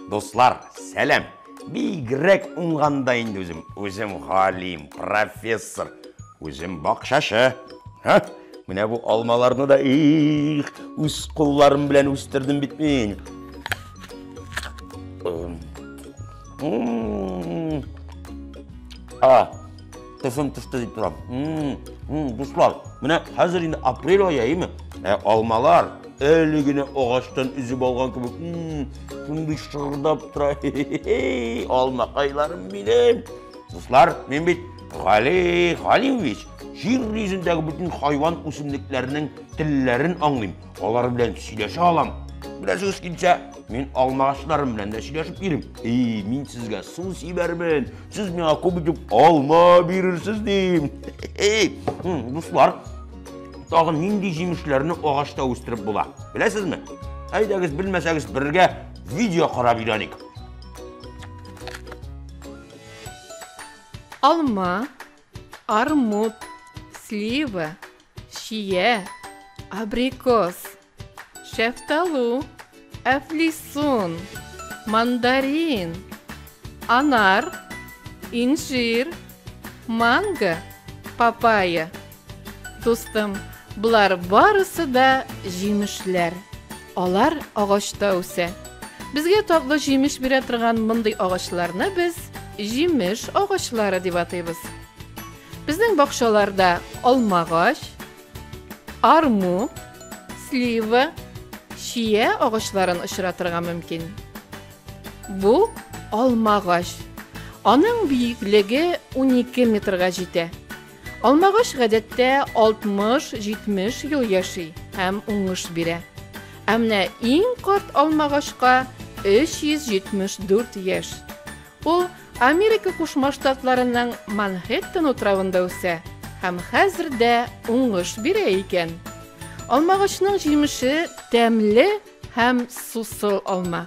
Дуслар, сәлем! Бигрәк уңганда инде үзем. Үзем галим, профессор, үзем бакчачы. Ха? Менә бу алмаларны да их, үз кулларым белән үстердем бит мин. А, Тышым тышты дип торам. Дуслар, менә хәзер инде апрель ае, әйеме? Ә алмалар әле генә агачтан өзеп алган кебек, шундый шырдап тора. Алмакайларым минем. Дуслар, мин бит Гали Галимович, җир йөзендәге бөтен хайван үсемлекләренең телләрен аңлыйм. Алар белән сөйләшә алам. Беләсегез килсә, мин алмагачларым белән дә сөйләшеп йөрим. И, мин сезгә су сибәрмен, сез миңа күп итеп алма бирерсез дим. Эй, дуслар, тагын нинди җимешләрне агачта үстереп була? Беләсезме? Әйдәгез, белмәсәгез, бергә видео карап өйрәник. Алма, армут, слива, Чия, абрикос, шәфталу, әфлисун, мандарин, анар, инжир, манго, папайя. Дустым, Болар барысы да җимешләр. Алар агачта үсә. Безгә татлы җимеш бирә торган мондый агачларны без җимеш агачлары дип атыйбыз. Безнең бакчаларда алмагач, арму, слива, чия агачларын очратырга мөмкин. Бу алмагач. Аның биеклеге 12 метрга җитә. Алмагач гадәттә 60-70 ел яши һәм уңыш бирә. Ә менә иң карт алмагачка 374 яшь. Ул Америка Кушма Штатларының Манхэттен утравында үсә һәм хәзер дә уңыш бирә икән. Алмагачның җимеше тәмле һәм сусыл алма.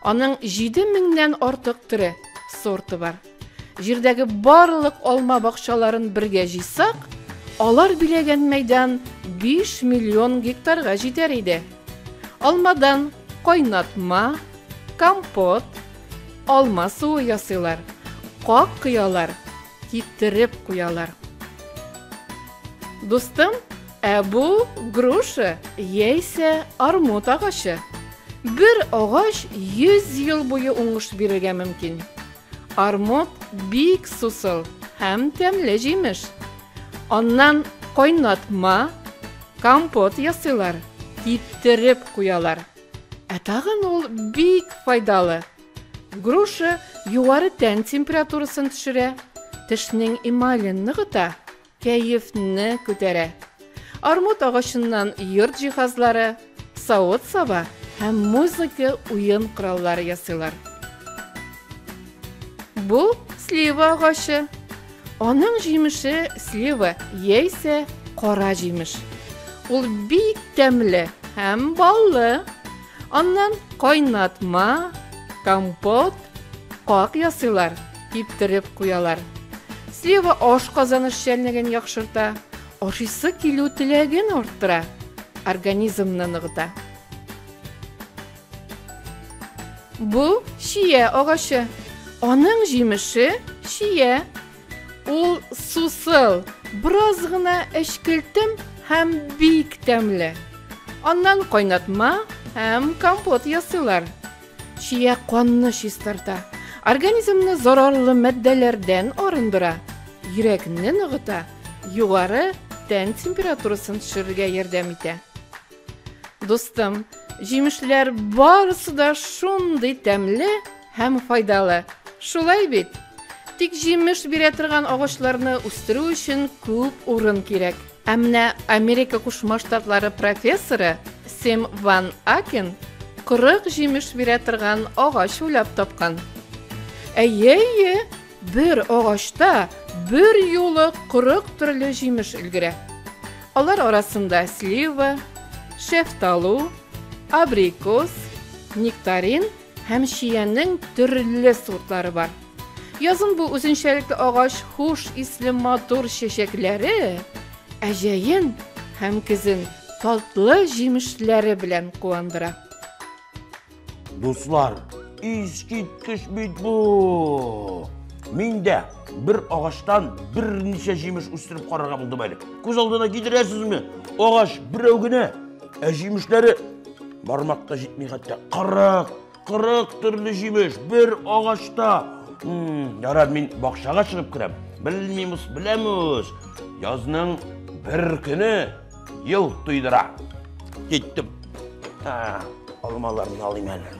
Аның җиде меңнән артык төре, сорты бар. Җирдәге барлык алма бакчаларын бергә җыйсак, алар биләгән мәйдан 5 миллион гектарга җитәр иде. Алмадан кайнатма, компот, Алма суы ясыйлар. Как кыялар, китереп куялар. Дустым, ә бу груша яисә армут агачы. Бер агач 100 ел буе уңыш бирергә мөмкин. Армут бик сусыл һәм тәмле җимеш. Аннан кайнатма, компот ясыйлар, киптереп куялар. Ә тагын ул бик файдалы. Груша югары тән температурасын төшерә, тешнең эмален ныгыта, кәефне күтәрә. Армут агачыннан йорт җиһазлары, савыт-саба һәм музыка уен кораллары ясыйлар. Бу слива агачы. Аның җимеше слива яисә кара җимеш. Ул бик тәмле һәм баллы. Аннан кайнатма, компот, как ясыйлар, киптереп куялар. Слива аш казаныш чәлнеген яхшырта, ашыйсы килү теләген арттыра, организмны ныгыта. Бу чия агачы. Аның җимеше чия. Ул сусыл, бераз гына әчкелтем һәм бик тәмле. Аннан кайнатма һәм компот ясыйлар. Чия канны чистарта, организмны зарарлы матдәләрдән арындыра, йөрәкне ныгыта, югары тән температурасын төшерергә ярдәм итә. Дустым, җимешләр барысы да шундый тәмле һәм файдалы. Шулай бит? Тик җимеш бирә торган агачларны үстерү өчен күп урын кирәк. Ә менә Америка Кушма Штатлары профессоры Сим Ван Акен 40 җимеш бирә торган агач уйлап тапкан. Әйе, әйе, Бер агачта бер юлы 40 төрле җимеш өлгерә. Алар арасында слива, шефталу, абрикос, нектарин һәм чиянең төрле сортлары бар. Язын бу үзенчәлекле агач хуш исле матур чәчәкләре, ә җәен һәм көзен татлы җимешләре белән куандыра. Дуслар, искиткеч бит бу! Мин дә бер агачтан берничә җимеш үстереп карарга булдым әле. Күз алдына китерәсезме? Агач берәү генә, ә җимешләре бармакка җитми хәтта. Кырык, кырык төрле җимеш бер агачта. Ярар, мин бакчага чыгып керәм. Белмимус, беләмус. Язның бер көне Ел туйдыра. Киттем. Ә, алмаларны алыйм әле.